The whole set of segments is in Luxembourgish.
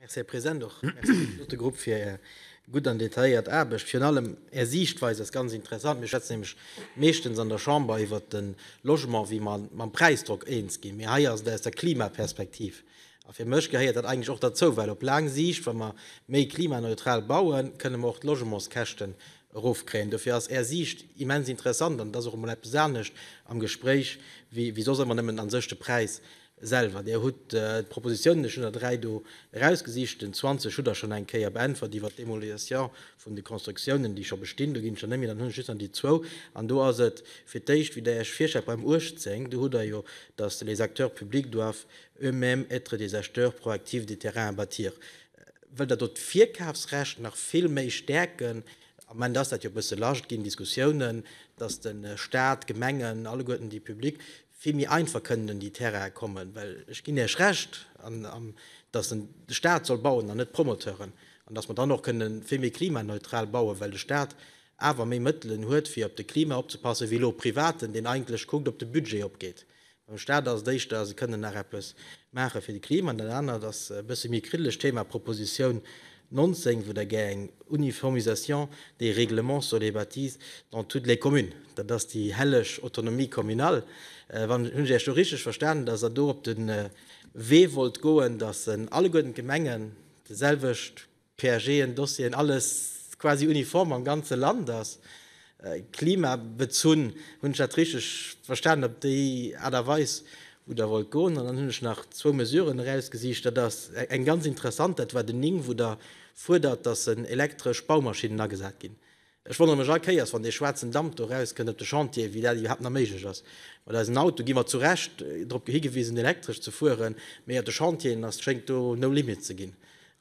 Merci, Här President. Och merci un de Lottegrupp fir Är gutt an detailléiert Aarbecht. Virun allem Är Siichtweis ass ganz interessant. Mir schwätzen nämlech meeschtens an der Chamber iwwert de Logement, wéi mer mam Präisdrock eens ginn, mee hei ass et aus der Klimaperspektiv. A fir mech gehéiert dat eigentlech och derzou, well op laang Siicht, wa mer méi klimaneutral bauen, kënne mer och d'Logementskäschten erofkréien. Dofir ass Är Siicht immens interessant an et ass och emol eppes anescht am Gespréich wéi soss ëmmer nëmmen an sech de Präis Selwer. Dir hutt d'Propositionen, ech hunn der dräi do erausgesicht, den 20 hutt Der schonn eng Kéier beäntwert iwwert d'Démolition vun de Constructionen, déi scho bestinn. Do ginn ech dann net méi, dann hunn ech just nach déi zwou. An do ass et fir d'éischt, wéi Der Iech virstellt, beim 18, do hutt Der jo, dass les acteurs publics doivent eux-mêmes être des acheteurs proactifs des terrains à bâtir. Wëllt Der do d'Virkafsrecht nach vill méi stäerken? Am Moment ass dat jo e bësse lasch, et ginn Diskussiounen, dass de Stat, d'Gemengen, alleguerten déi public, vill méi einfach kënnen un déi Terraine kommen, well ech ginn Iech Recht, dass en de Stat soll bauen an net d'Promoteuren, an dass mer dann och kënnen vill méi klimaneutral bauen, well de Stat awer méi Mëttelen huet, fir op de Klima opzepassen, wéi elo e Privaten, deen eigentlech kuckt, ob de Budget opgeet. Beim Stat ass et éischter, se kënnen nach eppes maache fir de Klima, an dat anert ass e bësse méi e kriddlegt Thema, Propositioun 19, wou Der gär eng Uniformisation des règlements sur les bâtisses dans toutes les communes, dat ass déi helleg Autonomie communale, wann ech Iech do richtig verstanen, dass Der do op de Wee wollt goen, dass alleguerten d'Gemengen de selwecht PAGen, Dossieren, alles quasi uniform am ganze Land ass. Klimabezunn. Hunn ech dat richteg verstanen op déi Aart a Weis, wou Der wollt goen? An dann hunn ech nach zwou Mesuren erausgesicht. Dat ass eng ganz interessant, dat war den 9, wou Der fuerdert, dass elektresch Baumaschinnen agesat ginn. Ech wonnere mech all Kéiers, wann dee schwaarzen Damp do erauskënnt op de Chantieren, wéi dat iwwerhaapt nach méiglech ass. Mat eisen Autoe gi mer zu Recht drop higewisen, elektresch ze fueren, mee op de Chantieren ass, schéngt do no limits ze ginn.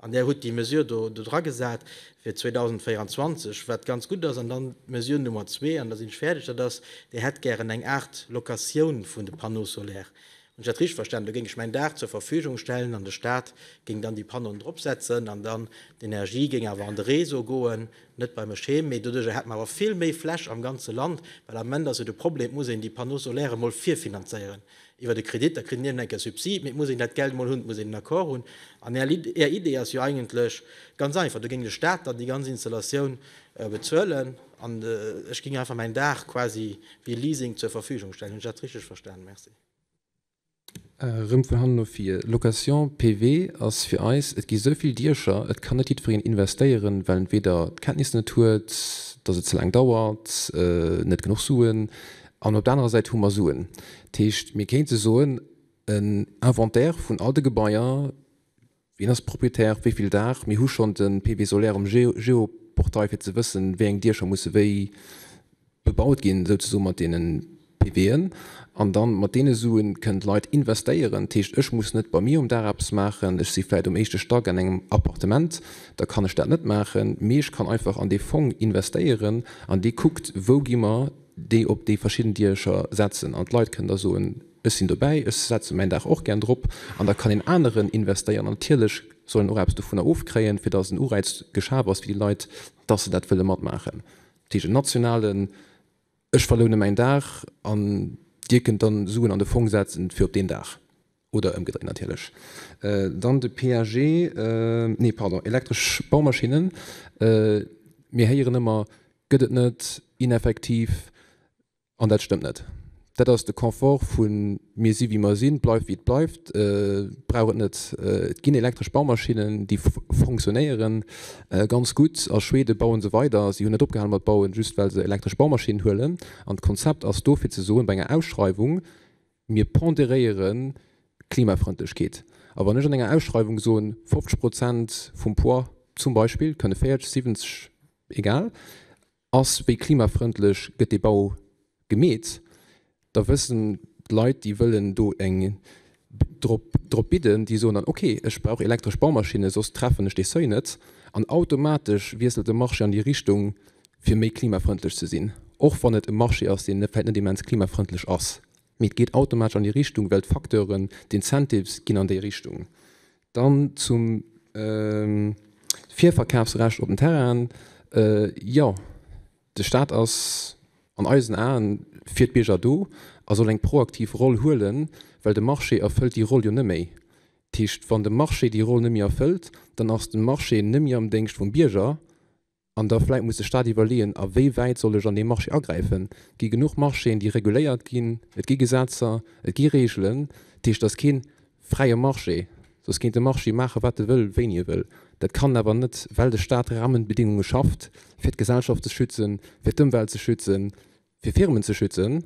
An Där hutt déi Mesure do dodra gesat fir 2024, wat ganz gutt ass. An dann d'Mesure Nummer zwee, an da sinn ech fäerdeg, dat ass, Dir hätt gären eng Aart Locatioun vun de Panneaux solaires. Hunn ech dat richteg verstanen? Do géing ech mäin Daach zur Verfügung stellen an de Staat géing dann déi Panneauen dropsetzen an dann d'Energie géing awer an de Réseau goen, net bei mech heem. Mee doduerjer hätt mer awer vill méi Fläch am ganze Land, well am Ament ass jo de Problem, et muss een déi Panneaux solaires emol virfinanzéieren. Iwwert e Kredit, da kritt een iergendeng Kéier Subsid, mee et muss een dat Geld emol hunn, et muss een en Accord hunn. An Är Lid, Är Idee ass jo eigentlech ganz einfach, do géing de Staat dann déi ganz Installatioun bezuelen an ech géing einfach mäin Daach quasi wéi Leasing zur Verfügung stellen. Hunn ech dat richteg verstanen? Merci. Rëm vun hannen no vir. Location PV ass fir eis, et gi esou vill Diecher, et kann net jiddwereen investéieren, well entweder d'Kenntnisser net huet, dass et ze laang dauert, net genuch Suen, An op der anerer Säit hu mer Suen. Dat heescht, mir kéinte soen, en Inventaire vun all de Gebaier, wien ass Proprietär, wéi vill Daach, mir hu schonn de PV solaire um Geoportail fir ze wëssen, wéi eng Diecher musse wéi bebaut ginn, esou zesumme mat deene PVen. An da mat deene Sue kënnen d'Leit investéieren. Dat heescht, ech muss net bei mir um Daach eppes maachen, ech si vläicht um éischte Stack an engem Appartement, da kann ech dat net maachen, mee ech kann einfach an dee Fong investéieren an dee kuckt, wou gi mer, déi op déi verschidden Diecher setzen an d'Leit kënnen da soen, ech sinn dobäi, ech setze mäin Daach och gär drop an da kann een aneren investéieren. An natierlech soll en och eppes dovunner ofkréien, fir datt en Uräiz geschaf ass fir déi Leit, datt se dat wëlle matmaachen. Dat heescht en nationalen, ech verloune mäin Daach an Dir kënnt dann Suen an de Fong setzen fir op deen Daach. Oder ëmgedréit natierlech. Dann de PAG, nee pardon, elektresch Baumaschinnen. Mir héieren ëmmer, gëtt et net, ineffektiv. An dat stëmmt net. Dat ass de Confort vu mir si wéi mer sinn, bleift wéi et bleift, brauch et net. Et ginn elektresch Baumaschinnen, déi funktionéieren ganz gutt. A Schweden baue se weider, si hunn net opgehal mat bauen, just well se elektresch Baumaschinnen huelen. An d'Konzept ass do fir ze soen, bei enger Ausschreiwung, Mir ponderéiere Klimafrëndlechkeet. A wann ech an enger Ausschreiwung soen, 50 Prozent vum Poids zum Beispill, kënne 40, 70, egal, ass wéi klimafrëndlech gëtt dee Bau gemeet, da wëssen d'Leit, déi wëllen do eng drop drop bidden, déi soen dann, okay, ech brauch elektresch Baumaschinne, soss treffen ech dee Seuil net. An automatesch wiesselt de Marché an déi Richtung, fir méi klimafrëndlech ze sinn, och wann et e Marché ass, deen vläicht net immens klimafrëndlech ass, mee et geet automatesch an déi Richtung, well d'Facteuren, d'Incentives ginn an déi Richtung. Dann zum Virverkafsrecht op den Terrainen. Jo, de Staat ass an eisen Aen fir d'Bierger do a soll eng proaktiv Roll huelen, well de Marché erfëllt déi Roll jo net méi. Dat heescht, wann de Marché déi Roll net méi erfëllt, dann ass de Marché net méi am Déngscht vum Bierger, An da vläit muss de Staat iwwerleeën, a wéi wäit soll ech an dee Marché agräifen. Et gi genuch Marchéen, déi reguléiert ginn, et gi Gesetzer, et gi Reegelen. Dat heescht, et ass kee fräie Marché, soss kéint de Marché maache wat e wëll, wéini e wëll. Dat kann en awer net, well de Staat Rahmenbedéngunge schafft, fir d'Gesellschaft ze schützen, fir d'Ëmwelt ze schützen, fir Firmen ze schützen.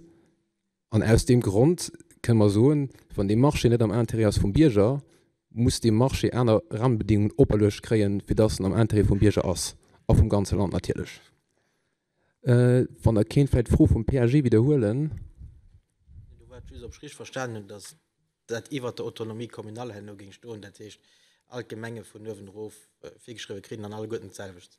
An aus deem Grond kënne mer soen, wann dee Marché net am Intérêt ass vum Bierger, muss dee Marché aner Rahmenbedingungen operluecht kréien, fir dass en am Intérêt vum Bierger ass a vum ganze Land natierlech. Wann Der kéint vläicht d'Fro vum PAG widderhuelen. Do war et just, ob ech richteg verstanen hunn, dass dat iwwert der Autonomie communale herno géing stoen, dat heescht, all d'Gemenge vun uewen erof virgeschriwwen kritt an alleguerten d'selwecht.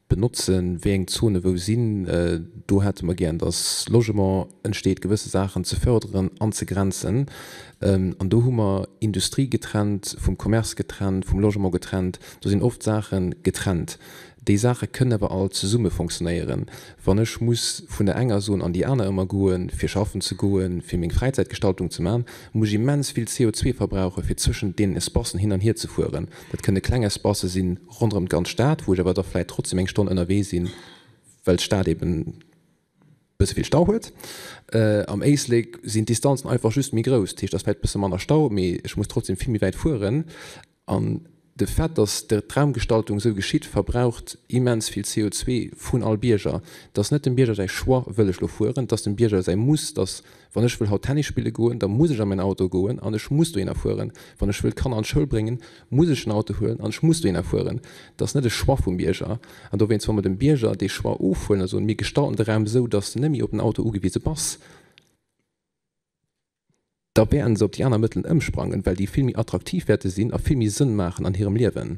benotzen, wéi eng Zone wou sinn, do hätte mer gär dass Logement entsteet, gewësse Saachen ze förderen, anzegrenzen an do hu mer Industrie getrennt vum Commerce getrennt, vum Logement getrennt, do sinn oft Saache getrennt. Déi Saache kënnen awer all zesumme fonctionnéieren. Wann ech muss vun der enger Zone an déi aner ëmmer goen, fir schaffen ze goen, fir meng Fräizäitgestaltung ze maachen, muss ech immens vill CO2 verbrauchen, fir zwëschent deenen Espacen hin an hierzefueren. Dat kënne kleng Espacë sinn, ronderëm d'ganz Stad, wou ech awer da vläit trotzdem eng Stonn ënnerwee sinn, well d'Stad eben e bësse vill Stau huet. Am Éislek sinn d'Distanzen einfach just méi grouss. Dat heescht, et ass vläit e bësse manner Stau, mee ech muss trotzdem vill méi wäit fueren. An de Fait, datt d'Raumgestaltung esou geschitt, verbraucht immens vill CO2 vun all Bierger. Et ass net dem Bierger säi Choix, wëll ech elo fueren, et ass dem Bierger säi Muss, datt Wann ech wëll haut Tennis spille goen, da muss ech a mäin Auto goen an ech muss dohinner fueren. Wann ech wëll d'Kanner an d'Schoul bréngen, muss ech den Auto huelen an ech muss dohinner fueren. Dat ass net e Choix vum Bierger. An dowéinst, wa mer dem Bierger dee Choix ofhuelen a soen, mir gestalten de Raum esou, datt s de net méi op den Auto ugewise bass, da wäerten se op déi aner Mëttelen ëmsprangen, well déi vill méi attraktiv wäerte sinn a vill méi Sënn maachen an hirem Liewen.